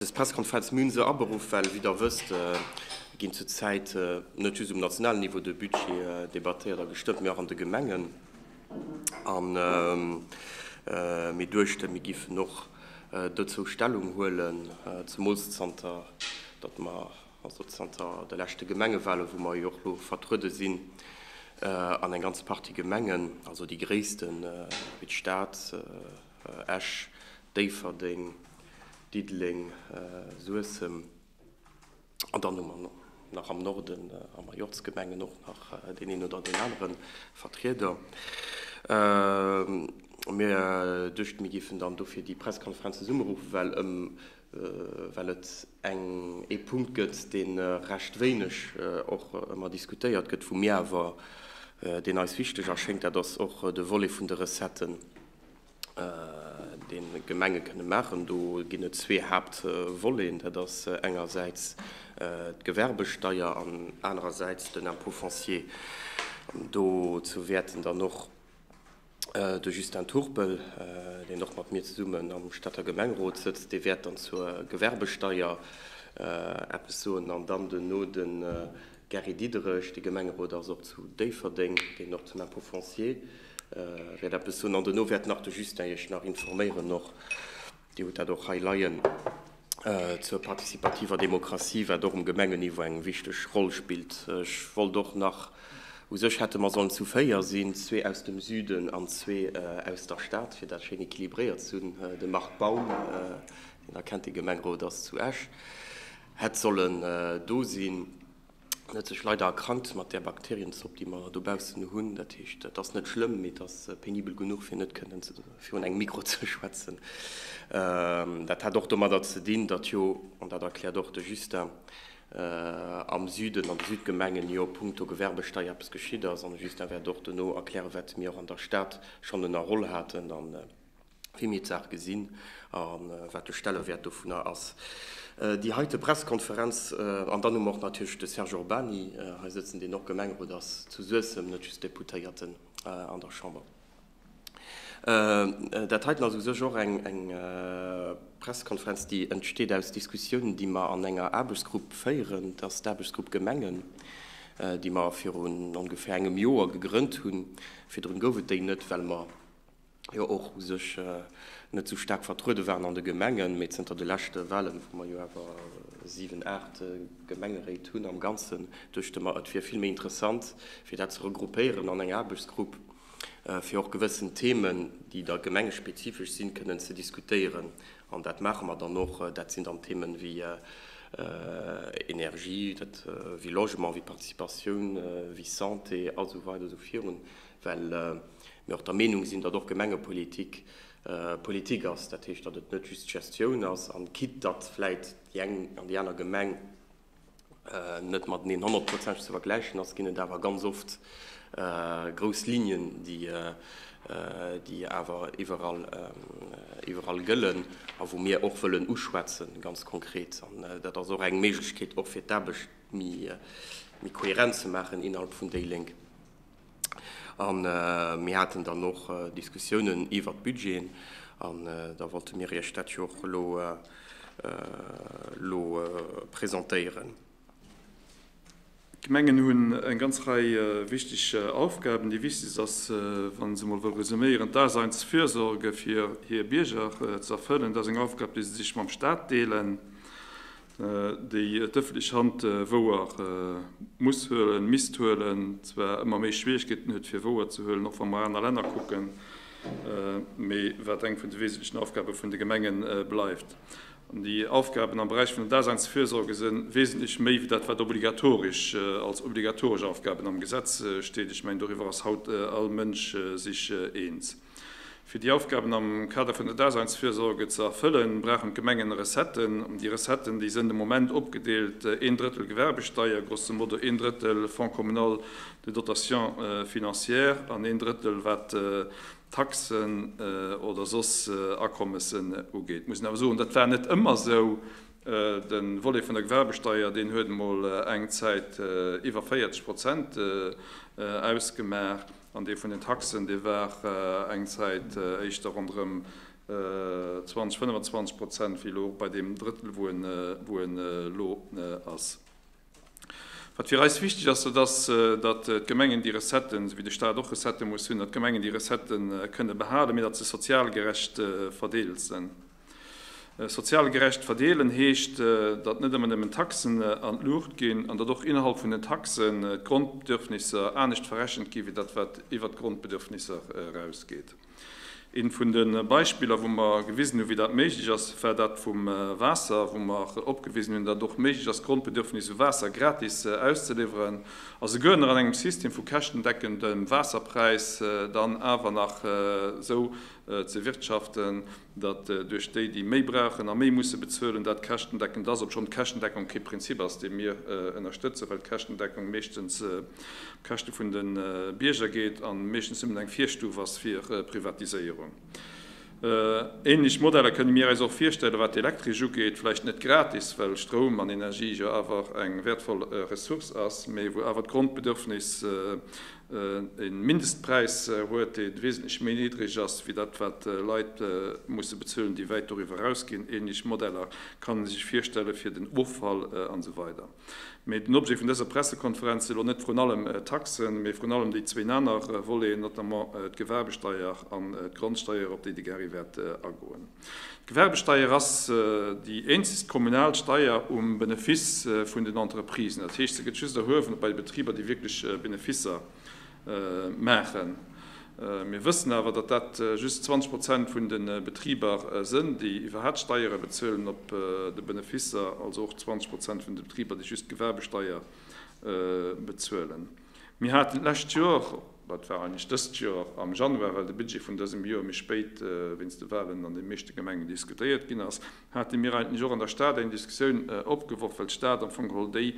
Des Pressekonferenz hu mir se aberuff, well, wéi Der wësst, ginn zur Zäit net just um nationalen Niveau de Budgete debattéiert a gestëmmt, mee och an de Gemengen. An mir duechten, mir géifen och dozou Stellung huelen, zemools zanter datt mer, also zanter de leschte Gemengewahlen, wou mer jo och elo vertruede sinn an eng ganz Partie Gemengen, also déi gréissten, wéi d'Stad, Esch, Déifferdeng, Diddeleng, Suessem an dann hu mer nach am Norden a Majorzgemengen och nach deen een oder deen anere Vertrieder. Mir duechten, mir géifen dann dofir déi Pressekonferenz zesummeruffen, well ëm well et eng ee Punkt gëtt, dee recht wéineg och ëmmer diskutéiert gëtt, wou mir awer, deen eis wichteg erschéngt, dat ass och de Volet vun de Recetten. déi d'Gemenge kënne maachen. Do ginn et zwee Haaptvoleten, dat ass engersäits d'Gewerbesteier an anerersäits den Impôt foncier. Dozou wäerten dann och de Justin Turpel, deen och mat mir zesummen am Stater Gemengerot sëtzt, dee wäert dann zur Gewerbesteier eppes soen an dann duerno de Gary Diderich, dee Gemengerot ass och zu Déifferdeng, deen och zum Impôt foncier. Wäert eppes hunn an dono wäert nach de Justin iech nach informéieren och, Dir hutt dat och hei leien, zur partizipativer Demokratie, wat och um Gemengeniveau eng wichteg Roll spillt. Ech wollt och nach, u sech hätte mer sollen zu véier sinn, zwee aus dem Süden an zwee aus der Stad, fir dat schéin équilibréiert ze hunn, de Marc Baum, deen der kennt, dee Gemengrot ass zu Esch, hätt sollen do sinn. En huet sech leider erkrankt mat där Bakterienzopp, déi mer dobaussen hunn. Dat heescht, et ass net schlëmm, mee et ass penibel genuch, fir net kënnen virun engem Mikro ze schwätzen. Dat hat och domadder ze dinn, datt jo, an dat erkläert och de Justin, am Süden, an de Südgemengen jo punkto Gewerbesteier eppes geschitt ass. An de Justin wäert och dono erklären, wat mir och an der Stad schonn ënnerholl haten. wéi mir d'Saach gesinn a wat de Stellewäert dovunner ass. Déi heite Pressekonferenz, an dann hu mer och natierlech de Serge Urbany hei sëtzen, deen och Gemengerot ass zu Suessem, net just Deputéierten an der Chamber. Dat heiten ass u sech och eng Pressekonferenz, déi entsteet aus Diskussiounen, déi mer an enger Aarbechtsgrupp féieren. Dat ass d'Aarbechtsgrupp Gemengen, déi mer virun ongeféier engem Joer gegrënnt hunn. Virdrun gouf et déi net, well mer jo och u sech net esou staark vertruede waren an de Gemengen, mee zënter de leschte Wahlen, wou mer jo awer 7, 8 Gemengeréit hunn am Ganzen, duechte mer et wier vill méi interessant fir dat ze regroupéieren an eng Aarbechtsgrupp, fir och gewëssen Themen, déi da gemengespezifesch sinn, kënnen ze diskutéieren. An dat maache mer dann och. Dat sinn dann Themen wéi Energie, wéi Logement, wéi Participatioun, wéi Santé a sou weider a sou virun, well mir och der Meenung sinn, datt och Gemengepolitik Politik ass, dat heescht, datt et net just Gestioun ass, an quitte datt vläit déi eng an déi aner Gemeng net mateneen honnertprozentig ze vergläichen ass, ginn et awer ganz oft grouss Lignen, déi awer iwwerall gëllen a wou mir och wëllen uschwätzen, ganz konkret. An dat ass och eng Méiglechkeet, och fir d'Aarbecht méi kohärent ze maachen innerhalb vun déi Lénk. An mir haten dann och Diskussiounen iwwert d'Budgeten. An da wollte mir Iech dat jo och elo lo presentéieren. D'Gemengen hunn eng ganz Rei wichteg Aufgaben. Déi wichtegst ass, wa se emol wëll resuméieren, d'Daseinsfürsorge fir hir Bierger z'erfëllen. Dat ass eng Aufgab, déi se sech mam Stat deelen. déi d'ëffentlech Hand wouer muss huelen, misst huelen, zwar ëmmer méi Schwierigkeeten huet fir wouer ze huelen, och wa mer aner Länner kucken, mee wat eng vun de wesentlechen Aufgabe vun de Gemenge bleift. An déi Aufgaben am Beräich vun der Daseinsfürsorge si wesentlech méi wéi dat, wat obligatorisch als obligatoresch Aufgaben am Gesetz steet. Ech mengen, doriwwer ass haut all Mënsch sech eens. Fir déi Aufgaben am Kader vun der Daseinsfürsorge ze erfëllen, brauchen d'Gemengen Recetten. Déi Recetten, déi sënn de Moment opgedeelt, een Drëttel Gewerbesteier, grosso modo een Drëttel Fonds communal de dotation financière an een Drëttel wat Taxen oder soss Akommessen ugeet. Ech muss awer soen, dat war net ëmmer esou. De Volet vun der Gewerbesteier, deen huet emol eng Zäit iwwer 40 Prozent ausgemaach. An dee vun den Taxen, dee war eng Zäit éischter ronderëm 20, 25 Prozent, wéi elo bei deem Drëttel, wou en elo ass. Wat fir eis wichteg ass, dat ass, datt d'Gemengen déi Recetten, esou wéi de Stat och Recettë muss hunn, datt d'Gemengen déi Recettë kënne behalen, mee datt se sozial gerecht verdeelt sinn. Sozial gerecht verdeelen heescht, datt net ëmmer nëmmen d'Taxen an d'Luucht ginn, an datt och innerhalb vun den Taxen d'Grondbedürfnisser anescht verrechent ginn, wéi dat wat iwwert d'Grondbedürfnisser erausgeet. Eent vun de Beispiller, wou mer gewisen hunn, wéi dat méiglech ass, war dat vum Waasser, wou mer opgewisen hunn, datt et och méiglech ass, d'Grondbedürfnis u Waasser gratis auszeliwweren, a souguer nach an engem System vu käschtendeckendem Waasserpräis dann awer nach esou ze wirtschaften, datt duerch déi, déi méi brauchen a méi musse bezuelen, dat käschtendeckend ass, obschonn d'Käschtendeckung kee Prinzip ass, dee mir ënnerstëtzen, well d'Käschtendeckung meeschtens op Käschte vun de Bierger geet a meeschtens nëmmen eng Virstuf ass fir Privatiséierung. Ähnlech Modeller kënne mir äis och virstellen, wat d'Elektresch ugeet, vläicht net gratis, well Stroum an Energie jo awer eng wäertvoll Ressource ass, mee wou awer d'Grondbedürfnis E Mindestpräis huet, dee wesentlech méi niddreg ass wéi dat, wat Leit musse bezuelen, déi wäit doriwwer erausginn. Ähnlech Modeller kann ee sech virstelle fir den Offall an esou weider. Mee den Objet vun dëser Pressekonferenz si lo net vrun allem d'Taxen, mee vrun allem déi zwéin aner Voleten, notamment d'Gewerbesteier an d'Grondsteier, op déi de Gary wäert agoen. D'Gewerbesteier ass déi eenzegst kommunal Steier um Benefice vun den Entreprisen. Dat heescht, se gëtt just erhuewen bei de Betriber, déi wierklech Beneficer maachen. Mir wëssen awer, datt dat just 20 Prozent vun de Betriber sënn, déi iwwerhaapt Steiere bezuelen op de Beneficer, also och 20 Prozent vun de Betriber, déi just d'Gewerbesteier bezuelen. Mir haten d'lescht Joer, oder et war eigentlech dëst Joer am Januar, well de Budget vun dësem Joer méi spéit wéinst de Wahlen an de meeschte Gemengen diskutéiert ginn ass, hate mir eigentlech och an der Stad eng Diskussioun opgeworf, well d'Stad am Fong geholl déi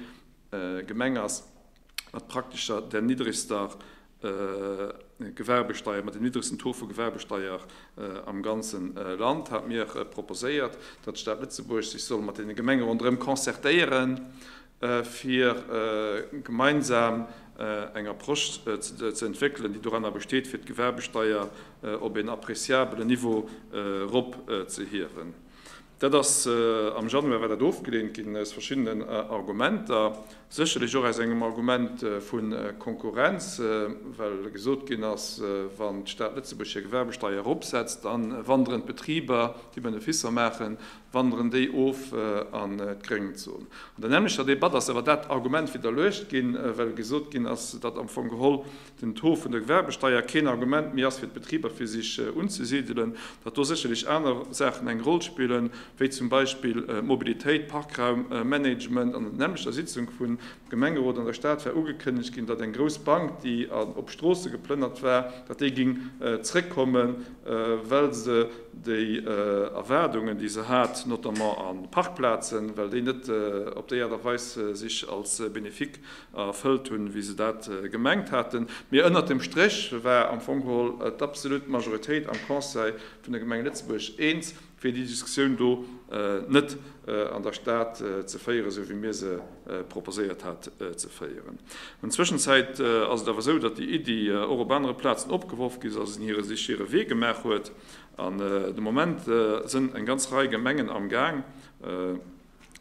Gemeng ass mat praktesch der niddregster Gewerbesteier, mat dem niddregsten Taux vu Gewerbesteier am ganze Land, hate mir proposéiert, datt d'Stad Lëtzebuerg sech soll mat deene Gemenge ronderëm concertéieren, fir gemeinsam eng Approche ze entwéckelen, déi doranner besteet, fir d'Gewerbesteier op een appréciabelen Niveau erop ze hiewen. Dat ass, am Januar war dat ofgeleent ginn aus verschiddenen Argumenter, sécherlech och aus engem Argument vu Konkurrenz, well gesot ginn ass, wann d'Stad Lëtzebuerg hir Gewerbesteier eropsetzt, da wanderen d'Betriber, déi Beneficer maachen, wanderen déi of an d'Gréngezon. An der nämmlechter Debatt ass awer dat Argument widderluecht ginn, well gesot ginn ass, datt am Fong geholl den Taux vun der Gewerbesteier keen Argument méi ass fir d'Betriber fir sech unzesidelen, datt do sécherlech aner Saachen eng Roll spillen, wéi zum Beispill Mobilitéit, Parkraummanagement. An der nämmlechter Sitzung vun Gemengerot an der Stad war ugekënnegt ginn, datt eng grouss Bank, déi op Stroosse geplënnert war, datt déi géing zréckkommen, well se déi Erwaardungen, déi se hat, notamment a Parkplazen, well déi net op déi Aart a Weis sech als bénéfique erfëllt hunn, wéi se dat gemengt haten. Mee ënnert dem Stréch war am Fong geholl d'absolut Majoritéit am Conseil vun der Gemeng Lëtzebuerg eens, fir déi Diskussioun do net an der Stad ze féieren, esou wéi mir se proposéiert hat ze féieren. An Zwëschenzäit ass et awer esou, datt déi Iddi och op anere Plazen opgeworf gi ass, se sech hire Wee gemaach huet an de Moment sënn eng ganz Rei Gemengen amgaang,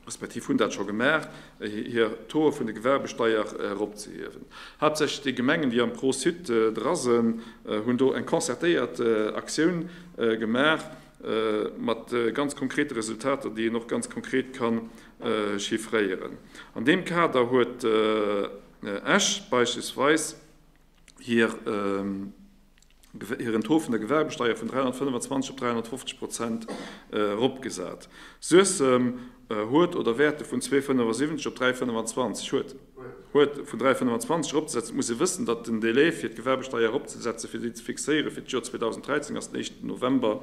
respektiv hunn dat scho gemaach, hir Taux vun der Gewerbesteier eropzehiewen. Haaptsächlech déi Gemengen, déi am Pro-site dra sinn, hunn do eng concertéiert Aktioun gemaach, mat ganz konkrete Resultater, déi een och ganz konkret ka chiffréieren. An deem Kader huet Esch beispillsweis, hiren Taux vun der Gewerbesteier vun 325 op 350 Prozent eropgesat. Suessem huet, oder wäert e vun 2,75 op 3,25, huet, huet e vun 3,25 eropzesetzen. Et muss ee wëssen, datt den Delai fir d'Gewerbesteier eropzesetzen, fir déi ze fixéieren fir d'Joer 2013, ass den éischten November.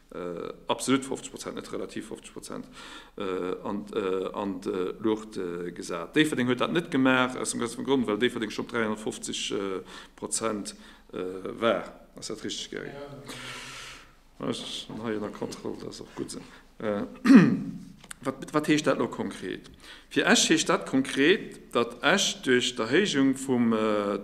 Absolut 50 Prozent, net relativ 50 Prozent, an d'Luucht gesat. Déifferdeng huet dat net gemaach, aus dem gënzegen Grond, well Déifferdeng schonn op 350 Prozent war. Ass dat richteg, Gary? Jo, dat ass richteg. Ech hu jo nach Kontroll, dat ass och gutt esou. Wat heescht dat elo konkret? Fir Esch heescht dat konkret, datt Esch duerch d'Erhéijung vum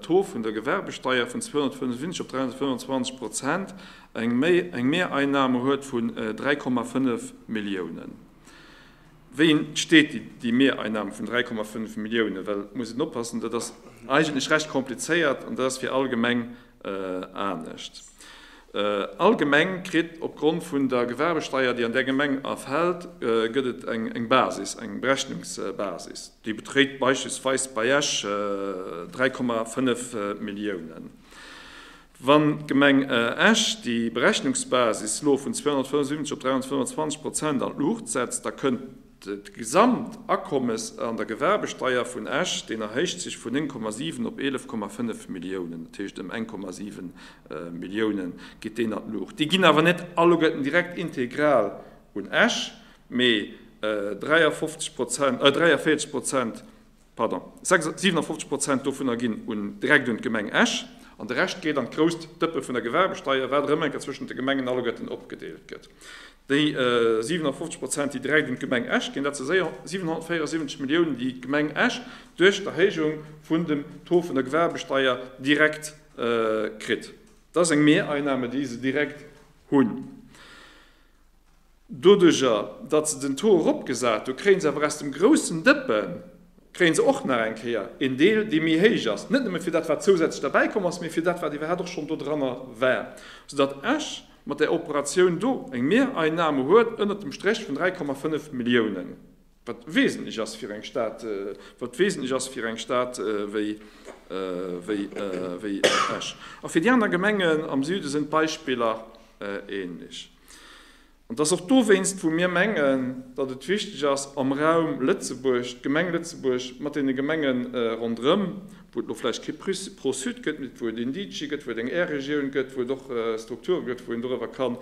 Taux vun der Gewerbesteier vun 275 op 325 Prozent Eng Mehreinnahmen huet vun 3,5 Milliounen. Wéi entsteet déi Mehreinnahmen vun 3,5 Milliounen? Well, muss een oppassen, dat ass eigentlech recht komplizéiert an dat ass fir all Gemeng anescht. All Gemeng kritt opgrond vun der Gewerbesteier, déi an där Gemeng erfält, gëtt et eng Basis, eng Berechnungsbasis. Déi beträgt beispillsweis bei Esch 3,5 Milliounen. Wann d'Gemeng Esch déi Berechnungsbasis lo vun 275 op 325 Prozent an d'Luucht setzt, da kënnt d'gesamt Akommes an der Gewerbesteier vun Esch, deen erhéicht sech vun 9,7 op 11,5 Milliounen, dat heescht ëm eng 0,7 Milliounen geet deen an d'Luucht. Déi ginn awer net alleguerten direkt integral un Esch, mee 43 Prozent, 43 Prozent Pardon, 57 Prozent dovunner ginn un direkt un d'Gemeng Esch an de Rescht geet an d'grousst Dëppe vun der Gewerbesteier, wat erëm eng Kéier zwëschent de Gemengen alleguerten opgedeelt gëtt. Déi 57 Prozent, déi direkt un d'Gemeng Esch ginn, dat si 774 Milliounen, déi d'Gemeng Esch duerch d'Erhéijung vun dem Taux vun der Gewerbesteier direkt kritt. Dat ass eng Mehreinnahme, déi se direkt hunn. Doduerjer, datt se den Taux eropgesat hu kréie se awer aus dem groussen Dëppe kréie se och nach eng Kéier een Deel, dee méi héich ass, net nëmme fir dat, wat zousätzlech derbäi komm ass, mee fir dat, wat iwwerhaapt och schonn do dranner war, soudatt Esch mat där Operatioun do eng Mehreinnahme huet ënnert dem Stréch vun 3,5 Milliounen, wat wesentlech ass fir eng Stad, wat wesentlech ass fir eng Stad wéi Esch. A fir déi aner Gemengen am Süde sinn d'Beispiller änlech. An et ass och dowéinst, wou mir mengen, datt et wichteg ass, am Raum Lëtzebuerg, d'Gemeng Lëtzebuerg mat deene Gemenge ronderëm, wou et elo vläicht kee Pro-Sud gëtt, mee wou et een DIGI gëtt, wou et eng Air-Regioun gëtt, wou et och Strukture gëtt, wou een doriwwer kann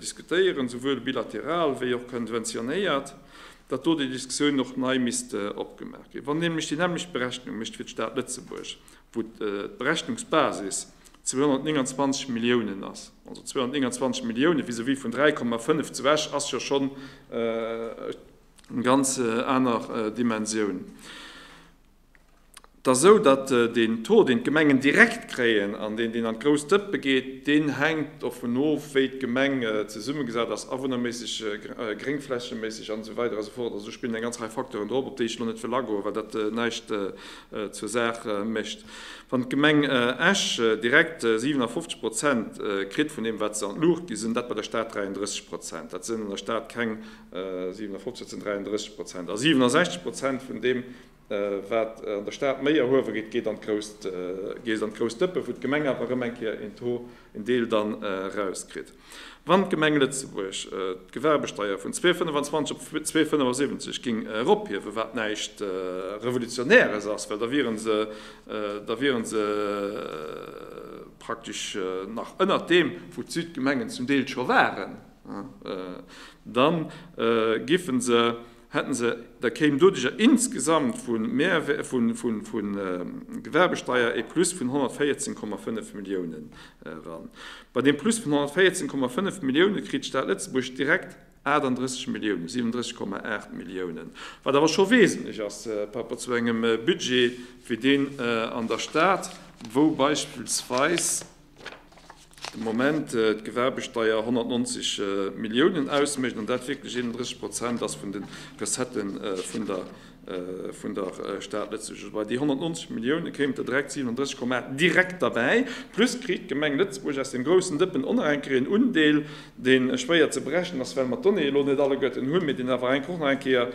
diskutéieren, esouwuel bilateral wéi och konventionéiert, datt do déi Diskussioun och nei misst opgemaach ginn. Wann een nämlech déi nämmlecht Berechnung mécht fir d'Stad Lëtzebuerg, wou d'Berechnungsbasis 229 Milliounen ass, also 229 Milliounen vis-à-vis vun 3,5 zu Esch, ass jo schonn eng ganz aner Dimensioun. T'ass esou, datt deen Taux, deen d'Gemengen direkt kréien an deen, deen an d'grouss Dëppe geet, deen hänkt dovun of, wéi d'Gemeng zesummegesat ass, awunnerméisseg, gréngflächeméisseg an esou weider a sou fort. Also do spillen eng ganz Rei Facteuren drop, op déi ech elo net wëll agoen, well dat näischt. zur Saach mécht. Wann d'Gemeng Esch direkt 57 Prozent kritt vun deem, wat se an d'Luucht ginn, sinn dat bei der Stad 33 Prozent. Dat sinn an der Stad keng 57, dat sinn 33 Prozent. A 67 Prozent vun deem, wat an der Stad méi erhuewe gétt, geet an d'grouss Dëppe, wou d'Gemeng awer erëm eng Kéier een Taux en Deel dann erauskritt. Wann d'Gemeng Lëtzebuerg d'Gewerbesteier vun 2,25 op 2,75 géing erophiewen, wat näischt Revolutionäres ass, well da wiere se, da wiere se praktesch nach ënnert deem, wou d'Südgemengen zum Deel scho waren, dann giffe se, hätten se, da kéim doduercher insgesamt vu Gewerbesteier e Plus vun 114,5 Milliounen eran. Bei deem Plus vun 114,5 Millioune kritt d'Stad Lëtzebuerg direkt 38 Milliounen, 37,8 Milliounen, wat awer scho wesentlech ass par rapport zu engem Budget wéi deen an der Stad, wou beispillsweis. de Moment d'Gewerbesteier 190 Milliounen ausmécht an dat wierklech 31 Prozent ass vun de Recettë vun der Stad Lëtzebuerg. Bei déi 190 Millioune kéimen der direkt 37,8 direkt derbäi, plus kritt d'Gemeng Lëtzebuerg aus deem groussen Dëppen och nach eng Kéier en Undeel, dee schwéier ze berechnen ass, well mer d'Donnéeë elo net alleguerten hunn, mee deen awer enk och nach eng Kéier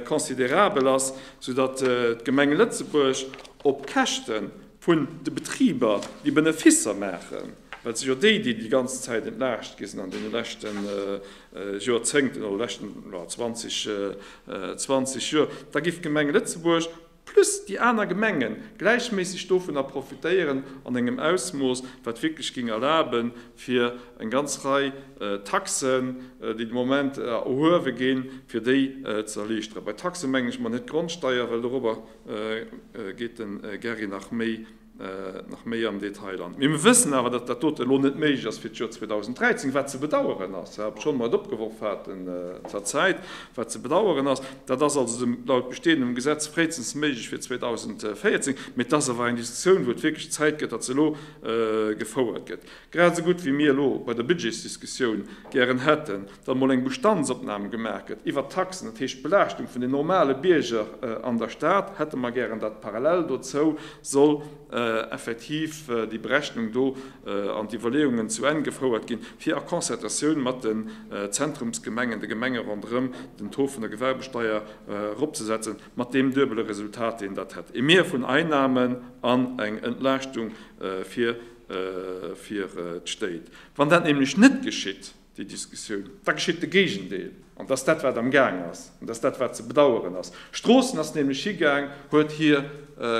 considerabel ass, soudatt d'Gemeng Lëtzebuerg op Käschte vun de Betriber déi Beneficer maachen, well et si jo déi, déi déi ganz Zäit entlaascht gi sinn an deene leschte Jorzéngten oder leschten 20, 20 Joer, da géif d'Gemeng Lëtzebuerg plus déi aner Gemenge gläichméisseg dovunner profitéieren an engem Ausmooss, wat wierklech géing erlaben, fir eng ganz Rei Taxen, déi de Moment erhuewe ginn, fir déi ze erliichteren. Bei Taxe mengen ech mat net d'Grondsteier, well dorobber. geet de Gary nach méi am Detail an. Mee mir wëssen awer, datt dat doten elo net méiglech ass fir d'Joer 2013, wat ze bedaueren ass, obschonn mer et opgeworf haten zur Zäit, wat ze bedaueren ass. Dat ass also laut bestehendem Gesetz fréistens méiglech fir 2014, mee et ass awer eng Diskussioun, wou et wierklech Zäit gëtt, datt se elo gefouert gëtt, grad esou gutt wéi mir elo bei der Budgetsdiskussioun gären hätten, datt mol eng Bestandsopnam gemaach gëtt iwwert d'Taxen, dat heescht d'Belaaschtung vun den normale Bierger an der Stad, hätte mer gären, datt parallel dozou soll effektiv déi Berechnung do an d'Iwwerleeungen zu Enn gefouert ginn, fir a Concertatioun mat den Zentrumsgemengen, de Gemenge ronderëm, den Taux vun der Gewerbesteier eropzesetzen, mat deem duebele Resultat, deen dat hätt, e Mier vun Einnahmen an eng Entlaaschtung fir d'Stéit. Wann dat nämlech net geschitt, déi Diskussioun, da geschitt de Géigendeel, an dat ass dat, wat am Gaang ass, an dat ass dat, wat ze bedauern ass. Stroossen ass nämlech higaang, huet hir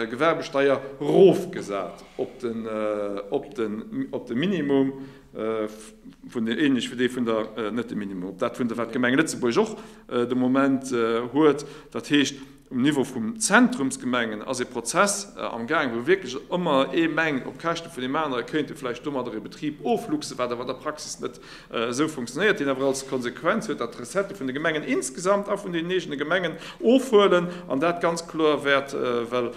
Gewerbesteier erofgesat op de Minimum, änlech wéi dee vun der, net de Minimum, op dat vun der, wat d'Gemeng Lëtzebuerg och de Moment huet, dat heescht, Um Niveau vum Zentrumsgemengen ass ee Prozess am Gaang, wou wierklech ëmmer ee mengt, op Käschte vun deem anere kéint ee vläicht domadder ee Betrib ofluchsen, wat awer an der Praxis net esou funktionéiert, deen awer als Konsequenz huet, datt d'Recettë vun de Gemengen insgesamt a vun deenen eegene Gemengen ofhuelen an dat ganz kloer wäert, well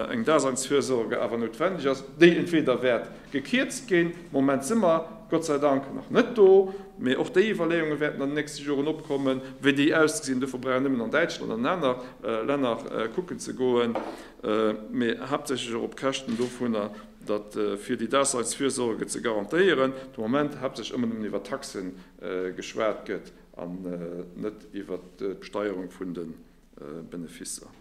eng Daseinsfürsorge awer noutwendeg ass, déi entweder wäert, Gekierzt ginn. Moment si mer Gott sei Dank nach net do, mee och déi Iwwerleeunge wäerten an den nächste Joren opkommen, wéi déi ausgesinn. Dofir brauch een nëmmen an Däitschland an an aner Länner kucken ze goen, mee haaptsächlech och op Käschten dovunner, datt fir déi Daseinsfürsorge ze garantéieren, de Moment haaptsächlech ëmmer nëmmen iwwer Taxe geschwat gëtt an net iwwer d'Besteierung vun de Beneficer.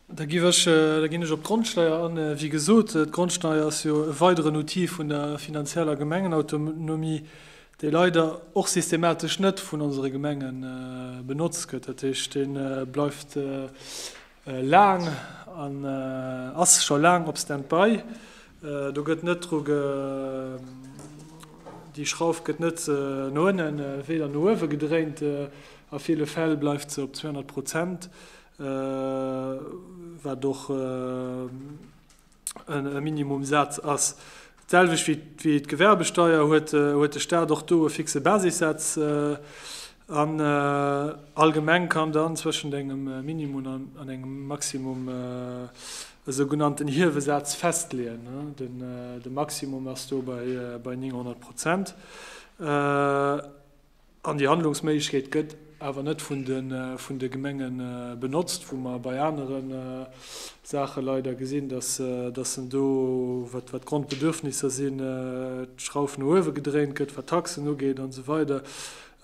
Da ginn ech op d'Grondsteier an. Wéi gesot, d'Grondsteier ass jo e weideren Outil vun der finanzieller Gemengenautonomie, dee leider och systematesch net vun onsere Gemenge benotzt gëtt. Dat heescht, dee bleift laang an ass scho laang op Standby. Do gëtt net dru, déi Schrauf gëtt net no ënnen, weder no uewe gedréint. A ville Fäll bleift se op 200 Prozent, wat och e Minimumsaz ass. D'selwecht wéi d'Gewerbesteier huet de Staat och do e fixe Basissaz an allgemeng kann dann zwëschent engem Minimum an engem Maximum e sougenannten Hiewesaz festleeën. De Maximum ass do bei 900 Prozent. An déi Handlungsméiglechkeet gëtt awer net vun de Gemenge benotzt, wou mer bei anere Saache leider gesinn, dass se do, wat d'Grondbedürfnisser sinn, d'Schrauf no uewe gedréint gëtt, wat d'Taxen ugeet an esou weider.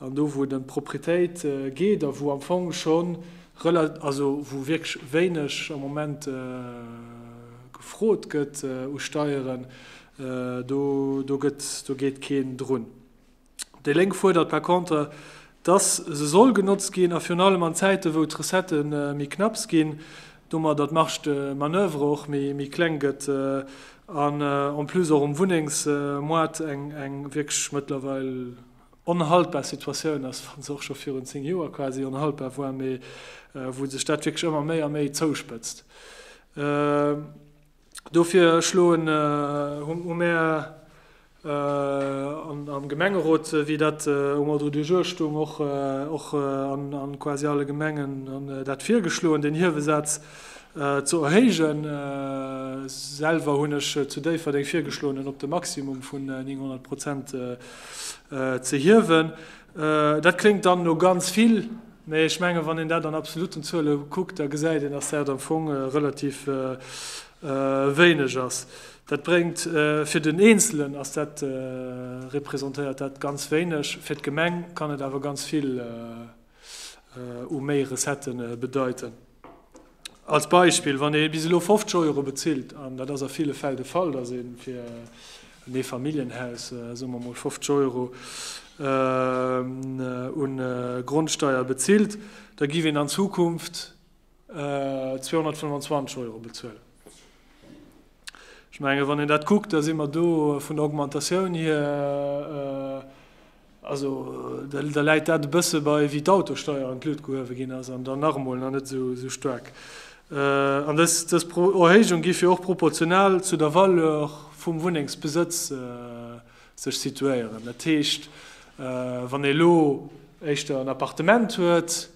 An do, wou et ëm d'Propretéit geet a wou am Fong schonn, also wou wierklech wéineg am Moment gefrot gëtt u Steieren, do geet keen drun. Déi Lénk fuerdert par contre, dass se soll genotzt ginn, a virun allem an Zäiten, wou d'Recettë méi knapps ginn, domadder d'Marge de manoeuvre och méi kleng gëtt an en plus och um Wunnengsmoart eng wierklech mëttlerweil onhaltbar Situatioun ass, wa se och scho virun zéng Joer quasi onhaltbar war, mee wou sech dat wierklech ëmmer méi a méi zouspëtzt. Dofir schloen hu mär am Gemengerot, wéi dat um Ordre du jour stoung, och an quasi alle Gemengen dat virgeschloen, deen Hiewesaz ze erhéijen. Selwer hunn ech zu Déifferdeng virgeschloen, en op de Maximum vun 900 Prozent ze hiewen. Dat kléngt dann no ganz vill, mä ech mengen, wann een dat an absoluten Zuele kuckt, da gesäit een, dass dat am Fong relativ wéineg ass. Dat bréngt fir den Eenzelen, ass dat, representéiert dat ganz wéineg, fir d'Gemeng kann et awer ganz vill u méi Recettë bedeiten. Als Beispill, wann ee bis elo 50 Euro bezilt, an dat ass a ville Fäll de Fall, datt ee fir en Eefamilljenhaus, soe mer emol, 50 Euro u Grondsteier bezilt, da giff een an Zukunft 225 Euro bezuelen. Ech menge wann een dat kuckt, da si mer do vun der Augmentatioun hier Also da läit dat e bësse bei wéi d'Autosteier an d'Luucht gehuewe ginn ass an dann nach emol nach net esou staark. An dës Erhéijung géif jo och proportional zu der Valeur vum Wunnengsbesëtz sech situéieren. Dat heescht, wann ee elo éischter en Appartement huet,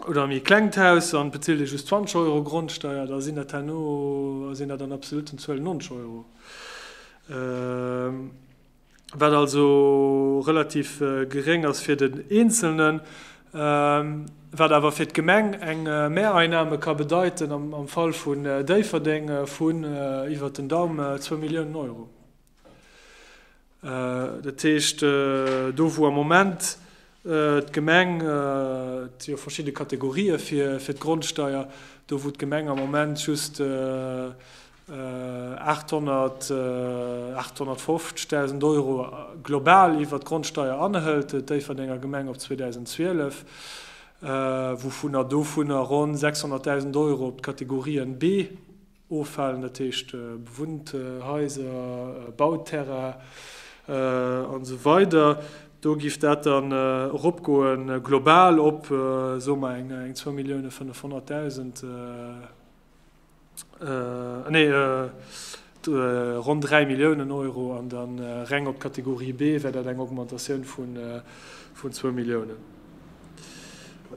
oder e méi klengt Haus an et bezilt ee just 20 Euro Grondsteier, da sinn dat herno, sinn dat an absoluten Zuelen 90 Euro, wat also relativ geréng ass fir den Eenzelnen, wat awer fir d'Gemeng eng Mehreinnahme ka bedeiten, am Fall vun Déifferdeng vun iwwert den Daumen zwou Milliounen Euro. Dat heescht, do wou am Moment d'Gemeng, et si jo verschidde Kategorië fir d'Grondsteier, do wou d'Gemeng am Moment just 850.000 Euro global iwwert d'Grondsteier anhëlt, et Déifferdenger Gemeng op 2012, wouvunner dovunner ronn 600.000 Euro op d'Kategorien B, Offalen, dat heescht bewunnt Haiser, Bauterrain an esou weider, do giff dat dann eropgoen, global op, soe mer, eng zwou Millioune 500 dausend, nee, ronn dräi Milliounen Euro, an da reng op d'Kategorie B wär dat eng Augmentatioun vun zwou Milliounen.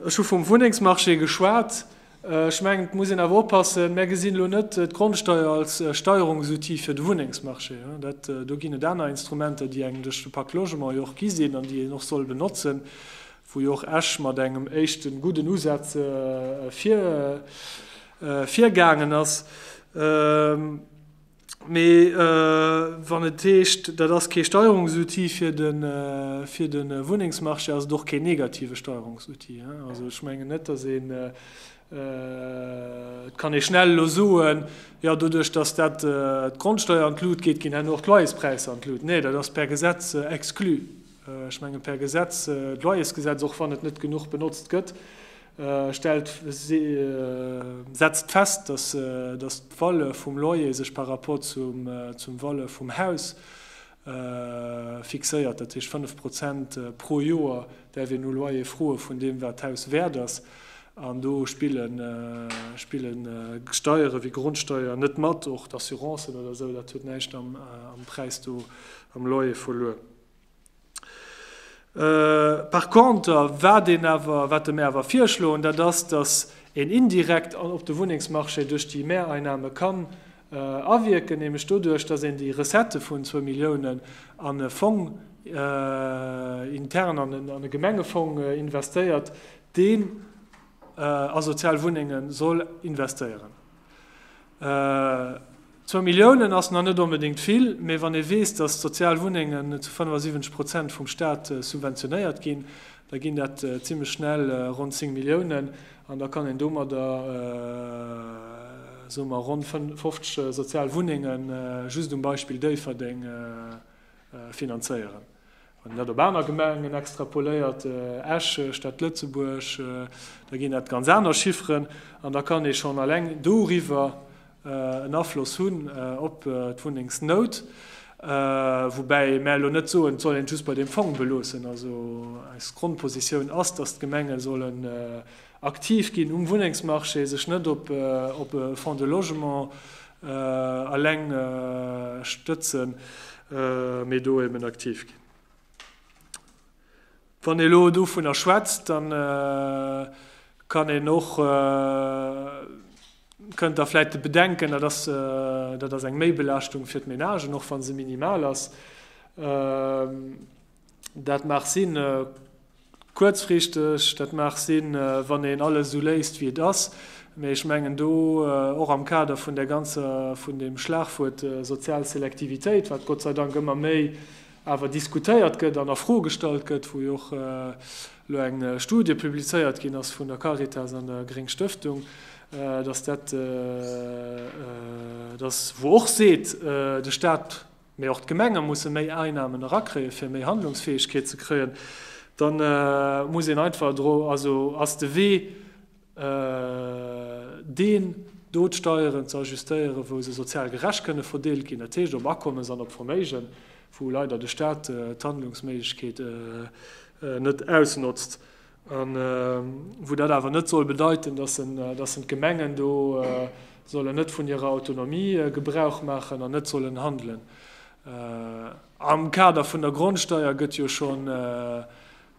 Ech hu vum Wunnengsmarché geschwat. Ech mengen, et muss een awer oppassen, mär gesinn elo net d'Grondsteuer als Steierungsoutil fir de Wunnengsmarché. Dat, do ginn et aner Instrumenter, déi engem duerch de Pacte Logement jo och gi sinn an déi een och soll benotzen, wou jo och Esch mat engem éischte gudden Usaz vir, virgaangen ass. Mee wann et heescht, dat ass kee Steierungsoutil fir de Wunnengsmarché, ass et och keen negative Steierungsoutil. Also ech mengen net, datt een et kann schnell elo soen, jo doduerch datt dat d'Grondsteier an d'Lut geet, ginn herno och d'Loyerspräisser an d'Lut. Nee, dat ass per Gesetz exclu. Ech menge per Gesetz, d'Loyersgesetz, och wann et net genuch benotzt gëtt, stellt setzt fest, dass dass d'Valeur vum Loyer sech par rapport zum zum Valeur vum Haus fixéiert, dat heescht 5 Prozent pro Joer däerf een u Loyer froe vun deem wat d'Haus wäert ass, an do spille spille Steiere wéi Grondsteier net mat, och d'Assurancen oder esou, dat huet näischt am am Präis do am Loyer verluer. Par contre, wat een awer, wat mir awer virschloen, dat ass, dass een indirekt op de Wunnengsmarché duerch déi Mehreinnahmen kann awierken, nämlech doduerch, dass een déi Recettë vun zwou Milliounen an e Fong intern, an e Gemengefong investéiert, deen a sozial Wunnenge soll investéieren. Zwou Milliounen ass nach net onbedéngt vill, mee wann ee weess, datt d'sozial Wunnengen zu 75 Prozent vum Staat subventionéiert ginn, da ginn dat zimmlech schnell ronn 10 Milliounen an da kann een domadder, soe mer, ronn 50 sozial Wunnenge just um Beispill Déifferdeng finanzéieren. Wann een dat op aner Gemengen extrapoléiert, Esch, Stad Lëtzebuerg, da ginn dat ganz aner Chifferen. An da kann ee schonn eleng doriwwer en Afloss hunn op d'Wunnengsnout. Woubäi mä elo net soen, et soll een et just bei deem Fong beloossen. Also eis Grondpositioun ass, datt d'Gemenge sollen Aktiv ginn um Wunnengsmarché, sech net op e Fonds de logement eleng stëtzen, mee do eben aktiv ginn. Wann ee elo dovunner schwätzt, da kann een och, kënnt da vläicht de Bedenken, dat ass, dat ass eng Méibelaaschtung fir d'Menagen, och wa se minimal ass. Dat mag sinn, kuerzfristeg, dat mag sinn, wann een alles esou léisst, wéi et ass. Mee ech mengen do, och am Kader vun där ganzer, vun deem Schlagwuert sozial Selektivitéit, wat Gott sei Dank ëmmer méi awer diskutéiert gëtt an a Fro gestallt gëtt, wou jo och elo eng Studie publizéiert ginn ass vun der Caritas an der Gréng Stëftung, datt dat, datt wou och seet, de Stat Mee och d'Gemenge musse méi Einnahmen erakréien, fir méi Handlungsfähigkeet ze kréien. Da muss een einfach dru, also ass de Wee deen, do d'Steieren ze ajustéieren, wou se sozial gerecht kënne verdeelt ginn, dat heescht op Akommes an op Verméigen, wou leider de Stat d'Handlungsméiglechkeet net ausnotzt. A wou dat awer net soll bedeiten, datt en d'Gemengen do sollen net vun hirer Autonomie Gebrauch maachen an net sollen handelen. Am Kader vun der Grondsteuer gëtt jo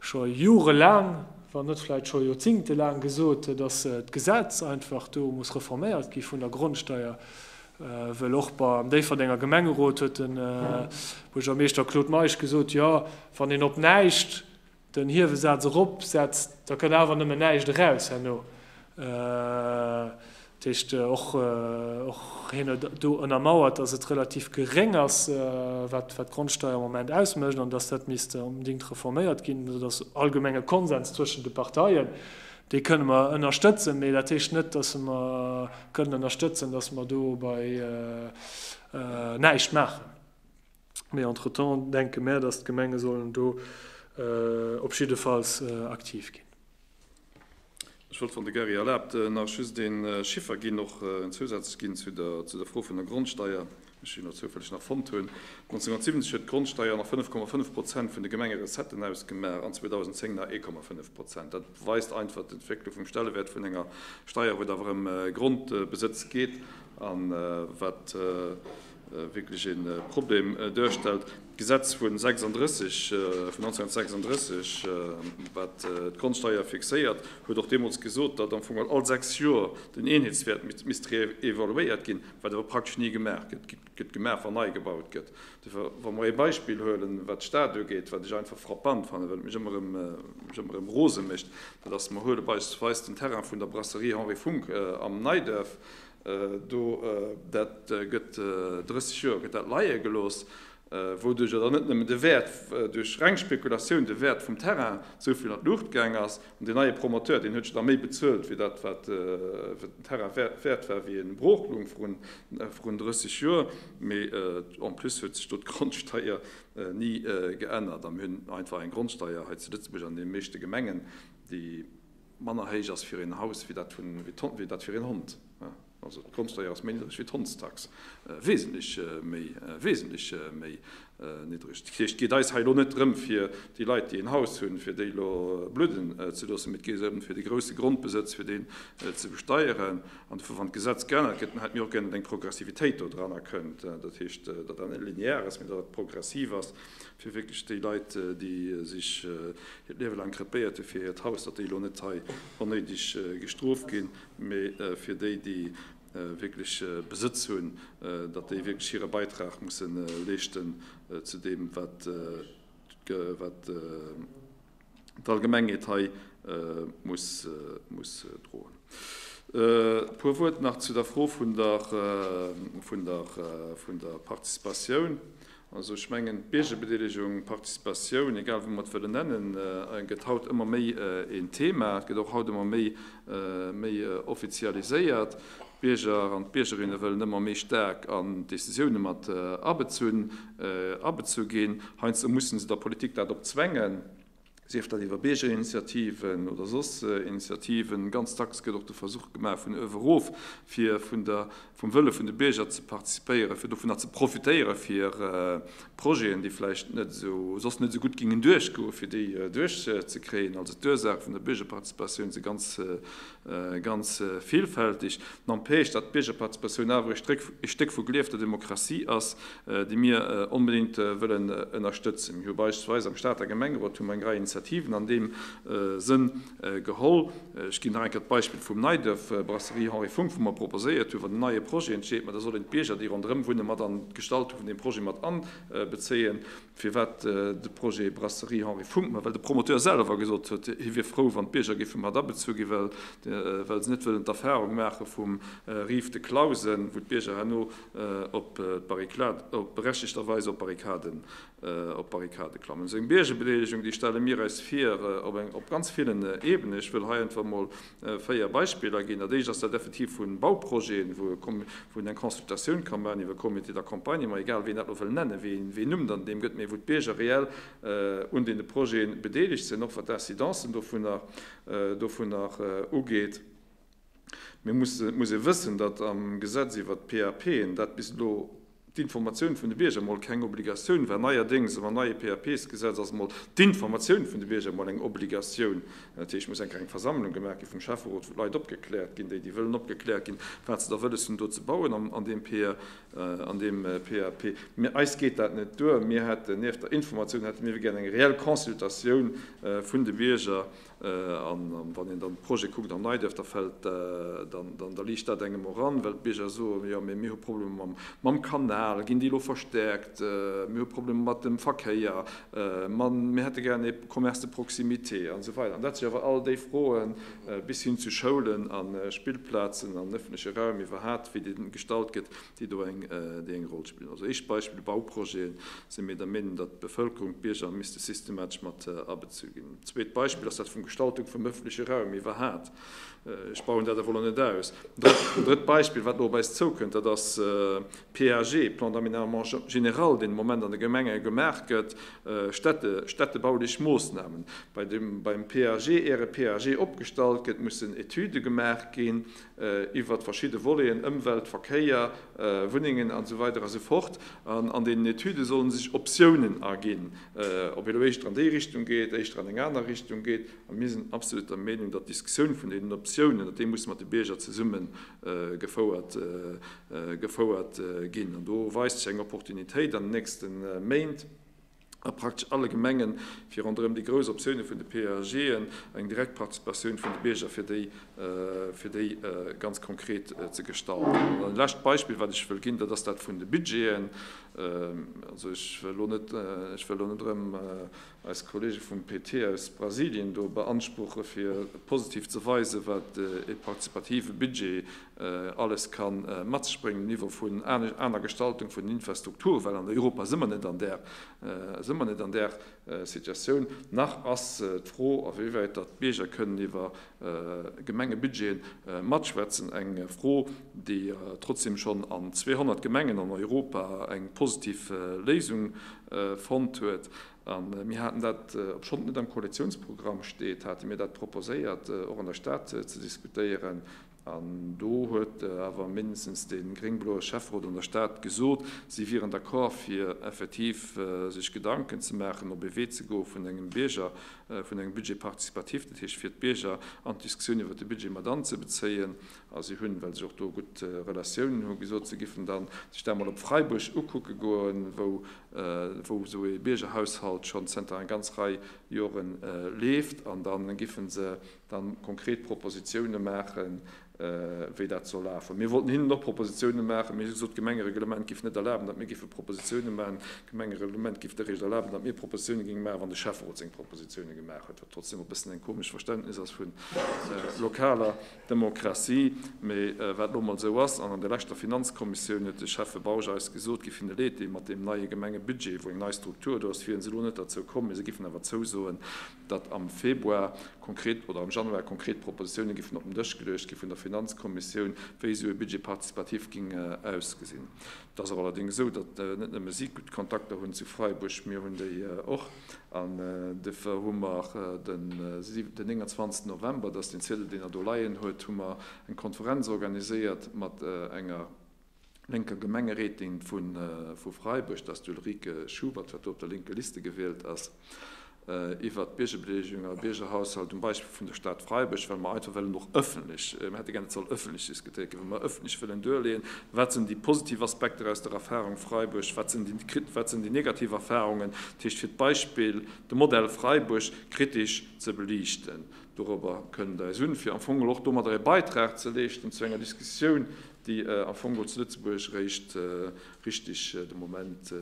scho jorelaang, wann net vläicht scho joerzingtelaang gesot, datt d'Gesetz einfach do muss reforméiert gi vun der Grondsteuer, wëll och beim Déifferdenger Gemengerot huet de Buergermeeschter Claude Meisch gesot, jo, wann een op näischt den Hiewesaz erop setzt, da kënn awer nëmmen näischt eraus herno, dat heescht och hien huet do ënnermauert, datt et relativ geréng ass, wat d'Grondsteier am Moment ausmécht an datt dat misst onbedéngt reforméiert ginn. Dat ass allgemenge Konsens zwëschen de Parteien, dee kënne mer ënnerstëtzen, mee dat heescht net, datt mer kënnen ënnerstëtzen, datt mer do bei näischt maachen. Mee entretemps denke mär, datt d'Gemenge sollen do op jiddefalls aktiv ginn. Ech wollt, wann de Gary erlaabt, nach just ee Chiffer ginn, och en Zousaz ginn zu der Fro vun der Grondsteier, wéi ech hien elo zoufälleg nach fonnt hunn. 1970 huet d'Grondsteier nach 5,5 Prozent vun de Gemengerecetten ausgemaach an 2010 nach 1,5 Prozent. Dat weist einfach d'Entwécklung vum Stellewäert vun enger Steier, wou et awer ëm Grondbesëtz geet a wat wierklech e Problem duerstellt. D'Gesetz vu 1936, wat d'Grondsteier fixéiert, huet och deemools gesot, datt am Fong geholl all sechs Joer den Eenheetswäert misst reevaluéiert ginn, wat awer praktesch ni gemaach gëtt. Et gëtt gemaach, wann nei gebaut gëtt. Wa mer ee Beispill huelen, wat d'Stad ugeet, wat ech einfach frappant fannen, wat mech ëmmer erëm rose mécht, dat ass, mer huele beispillsweis den Terrain vun der Brasserie Henri Funck am Neiduerf, Do, dat gëtt 30 Joer gëtt dat leie gelooss, wouduerch jo dann net nëmmen de Wäert, duerch reng Spekulatioun, de Wäert vum Terrain esou vill an d'Luucht gaang ass. An deen neie Promoteur, deen huet jo da méi bezuelt wéi dat, wat den Terrain wäert war, wéi e brooch loung vrun 30 Joer. Mee en plus huet sech do d'Grondsteier ni geännert a mir hunn einfach eng Grondsteier hei zu Lëtzebuerg an deene meeschte Gemengen, déi, Manner héich ass fir een Haus wéi dat wéi dat fir een Hond. Also d'Grondsteier ass méi niddreg wéi d'Hondstax, wesentlech méi, wesentlech méi niddreg. Dat heescht, et geet eis hei elo net drëm, fir déi Leit, déi een Haus hunn, fir déi elo bludden ze loossen, mee et geet drëm, fir de grouse Grondbesëtz, fir deen ze besteieren. An dofir, wann d'Gesetz geännert gëtt, dann hätte mir och gär, datt eng Progressivitéit do dran erkënnt. Dat heescht, datt dat net linear ass, mee datt dat progressiv ass, fir wierklech déi Leit, déi sech hiert Liewe laang krepéiert hu fir hiert Haus, datt déi elo net hei onnéideg gestrooft ginn, mee fir déi, déi wierklech Besëtz hunn, datt déi wierklech hire Beitrag musse leeschten zu deem, wat d'Allgemengheet hei muss droen. E puer Wuert nach zu der Fro vun der Participatioun. Also ech mengen, d'Biergerbedeelegung, Participatioun, egal wéi mer et wëllen nennen, gëtt haut ëmmer méi een Thema. Et gëtt och haut ëmmer méi offizialiséiert. D'Bierger an d'Biergerinne wëllen ëmmer méi staark an d'Decisioune mat abezunn, abezu ginn. Heiansdo mussen se der Politik dat opzwängen, sief dat iwwer Biergerinitiativen oder soss Initiativen. Ganz dacks gëtt och de Versuch gemaach, vun uewe erof, fir vun der, vum Wëlle vun de Bierger ze partizipéieren, fir dovunner ze profitéieren, fir Projeten, déi vläicht net esou, soss net esou gutt gingen duerchgoen, fir déi duerchzekréien. Also d'Ursaach vun der Biergerparticipatioun si ganz Ganz villfältig. N'empêche, datt d'Biergerparticipatioun awer ee Stéck vu geliefter Demokratie ass, déi mir onbedéngt wëllen ënnerstëtzen. Mir hu beispillsweis am Stater Gemengerot hu mer eng Rei Initiativen an deem Sënn geholl. Ech ginn nach eng Kéier d'Beispill vum Neiduerf, Brasserie Henri Funck, wou mer proposéiert hunn, wann en neie Projet entsteet, ma da sollen d'Bierger, déi ronderëm wunne mat an d'Gestaltung vun deem Projet mat anbezéien. Firwat de Projet Brasserie Henri Funck? Ma well de Promoteur selwer gesot huet, hie wier frou, wann d'Bierger géife mat abezu ginn, well se net wëllen d'Erfarung maache vum Rive de Clausen, wou d'Bierger herno berechtegter Weis op d'Barrikade klammen. Esou eng Biergerbedeelegung, déi stelle mir eis vir op ganz villen Ebenen. Ech wëll hei einfach emol Véier Beispiller ginn. Dat éischt ass dat effektiv vu Bauprojeten, wou een eng Consultatioun ka maachen iwwer e Comité d'accompagnement, egal wéi een dat elo wëll nennen, wéi een Numm dann deem gëtt, mä wou d'Bierger reell un deene Projete bedeelegt sinn, och wat d'Incidencen dovunner ugeet. Mir mussen, et muss ee wëssen, datt am Gesetz iwwert d'PAPen dat bis elo D'Informatioun vun de Bierger mol keng Obligatioun war. Neierdéngs am neie PAPs-Gesetz ass mol d'Informatioun vun de Bierger mol eng Obligatioun. Dat heescht, et muss eng kleng Versammlung gemaach gi vum Schäfferot, wou d'Leit opgekläert ginn, déi, déi wëllen opgekläert ginn, wat se da wëlles hunn do ze bauen an deem an deem PAP. Mee eis geet dat net duer. Mir hätten nieft der Informatioun hätte mir ewéi gär eng reell Consultatioun vun de Bierger A wann een dann d'Projete kuckt an Neidërf, da fält, da liicht dat engem och an, well d'Bierger soen, jo mee mir hu Problemer mam Kanal, ginn déi elo verstäerkt, mir hu Problemer mat dem Verkéier, mir hätte gären ee Commerce de proximité an esou weider. An dat si awer all déi Froen, bis hin zu Schoulen a Spillplazen an ëffentleche Raum iwwerhat, wéi dee gestalt gëtt, déi do eng déi eng Roll spillen. Also éischt Beispill, Bauprojeten, sinn mir der Meenung, datt d'Bevëlkerung, d'Bierger misste systematesch mat abezu ginn. Zweet Beispill ass dat vum Gestaltung vum ëffentleche Raum iwwerhat, ech bauen dat ewell elo net aus. An drëtt Beispill, wat elo op eis zoukënnt, dat ass PAG, Plan d'aménagement général, deen de Moment an de Gemenge gemaach gëtt, städte städtebaulich Moosnamen. Bei dem beim PAG, äre PAG opgestallt gëtt, mussen Etüde gemaach ginn, iwwert verschidde Voleten, Ëmwelt, Verkéier, Wunnengen an esou weider an esou fort, an an deenen Etüde solle sech Optiounen erginn, ob ee lo éischter an déi Richtung geet, éischter an eng aner Richtung geet. A mir sinn absolut der Meenung, datt d'Diskussioun vun deenen Optiounen, datt déi musse mat de Bierger zesumme gefouert, gefouert ginn. An do weist sech eng Opportunitéit an den nächste Méint, a praktesch alle Gemengen, fir ronderëm déi grouss Optioune vun de PAGen eng direkt Participatioun vun de Bierger fir déi fir déi ganz konkret ze gestalten. An dann e lescht Beispill, wat ech wëll ginn, dat ass dat vun de Budgeten. Also ech wëll elo net ech wëll elo net erëm eis Kollege vum PT aus Brasilien do beanspruche fir positiv ze weisen, wat ee partizipative Budget alles ka mat sech bréngen um Niveau vun aner Gestaltung vun den Infrastrukture, well an Europa si mer net an där, si mer net an där Situatioun. Nach ass d'Fro, a wéi wäit datt d'Bierger kënnen iwwer Gemengebudgeten matschwätzen, eng Fro, déi trotzdeem schonn an 200 Gemengen an Europa eng positiv Léisung fonnt huet. A mir haten dat, obschonn et net am Koalitionsprogramm steet, hate mir dat proposéiert, och an der Stad ze diskutéieren, An do huet awer mindestens dee gréng-bloe Schäfferot an der Stad gesot, si wieren d'accord, fir effektiv sech Gedanken ze maachen, op ee Wee ze goe vun engem Bierger, vun engem Budget participatif, dat heescht fir d'Bierger an d'Diskussioun iwwert de Budget mat anzebezéien. A si hunn, well sech och do gutt Relatiounen hunn, gesot, se géifen da sech dat emol op Freiburg ukucke goen, wou esou ee Biergerhaushalt schonn zënter enger ganz Rei Jore leeft, an da géife se dann konkret Propositiounen maachen, wéi dat soll lafen. Mir wollten hinnen och Propositiounen maachen, mee si hunn gesot, d'Gemengereglement géif net erlaben, datt mir géife Propositiounen maachen. D'Gemengereglement géif eréischt erlaben, datt mir Propositiounen géinge maachen, wann de Schäfferot seng Propositiounen gemaach huet, wat trotzdeem e bëssen eng komesch Verständnis ass vun lokaler Demokratie, mee wat elo emol esou ass. An an der leschter Finanzkommissioun huet de Schäffe Bausch eis gesot, géif hinne Leed dinn mat deem neie Gemengebudget, wou eng nei Struktur do ass, wiere se elo net derzou komm, mee se géifen awer zousoen, datt am Februar konkret oder am Januar konkret Propositioune géifen op den Dësch geluecht gi vun der Finanzkommissioun, wéi esou e Budget participatif géing ausgesinn. Et ass awer allerdéngs esou, datt net nëmme si gutt Kontakter hunn zu Freiburg, mir hunn déi och an dofir hu mer den 29 November, dat ass deen Ziedel, deen Der do leien huet, hu mer eng Konferenz organiséiert mat enger, Lénker Gemengerätin vu Freiburg, dass d'Ulrike Schubert, wat do op der lénker Liste gewielt ass, iwwert d'Biergebeleegung a Biergerhaushalt um Beispill vun der Stad Freiburg, well mer einfach wëllen och öffentlech, mer hätte gär, et soll öffentlech diskutéiert ginn, well mer öffentlech wëllen duerleeën, wat sinn déi positiv Aspekter aus der Erfahrung Freiburg, wat sinn déi negativ Erfahrungen, dat heescht fir d'Beispill, de Modell Freiburg kritisch ze beliichten. Dorobber kënnt eis un, fir am Fong och domadder e Beitrag ze leeschten zu enger Diskussioun, déi am Fong och zu Lëtzebuerg réischt richteg de Moment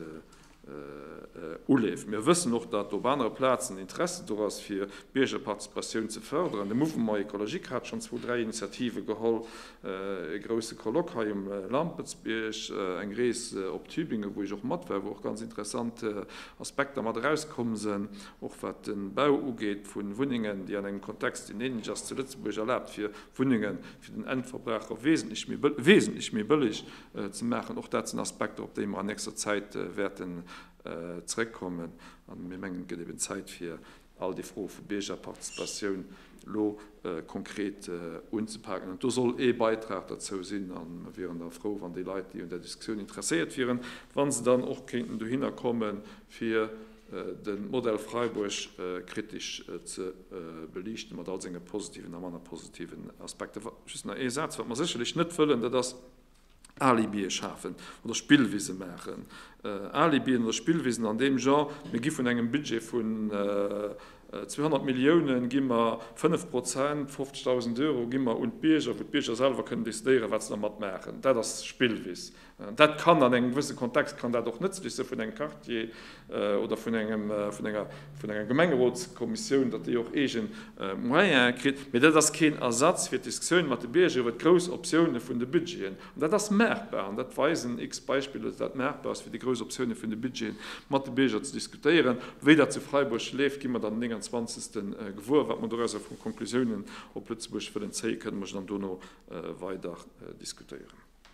uleeft. Mir wëssen och, datt op anere Plazen Interesse do ass, fir d'Biergerparticipatioun ze fërderen. De Mouvement Ecologique hat schonn zwou, dräi Initiative geholl, e grousse Colloque hei um Lampertsbierg, eng Rees op Tübingen, wou ech och mat war, wou och ganz interessant Aspekter mat erauskomm sinn, och wat de Bau ugeet vu Wunnengen, déi an engem Kontext, deen änlech ass zu Lëtzebuerg, erlaabt fir Wunnengen fir den Endverbraucher wesentlech méi, wesentlech méi bëlleg ze maachen. Och dat sinn Aspekter, op déi mer an nächster Zäit wäerten zréckkommen. A mir mengen, et gëtt eben Zäit, fir all déi Froe vu Biergerparticipatioun elo konkret unzepaken. An do soll ee Beitrag derzou sinn. A mer wieren da frou, wann déi Leit, déi un där Diskussioun interesséiert wieren, wa se dann och kéinten dohinner kommen, fir De Modell Freiburg kritesch ze beliichten, mat all senge positiven a manner positiven Aspekter. Just nach ee Saz, Wat mer sécherlech net wëllen, dat ass Alibie schafen oder Spillwise maachen. Alibien oder Spillwisen an deem Genre, Mir gi vun engem Budget vun 200 Milliounen, gi mer 5 Prozent, 50.000 Euro, gi mer un d'Bierger, wou d'Bierger selwer kënnen decidéieren, wat se dermat maachen. Dat ass Spillwis. Dat kann an engem gewësse Kontext kann dat och nëtzlech sou vun engem Quartier oder vun engem, vun enger, vun enger Gemengerotskommissioun, datt déi och eege Moyene kritt. Mee dat ass keen Ersatz fir d'Diskussioun mat de Bierger iwwer d'grouss Optioune vun de Budgeten. An dat ass maachbar an dat weisen x-Beispiller, datt dat maachbar ass fir déi grouss Optioune vun de Budgeten mat de Bierger ze diskutéieren. Wéi dat zu Freiburg leeft, gi mer dann den 29 gewuer. Wat mer dorausser vu Conclusiounen op Lëtzebuerg wëllen zéien, kënne mer dann dono weider diskutéieren.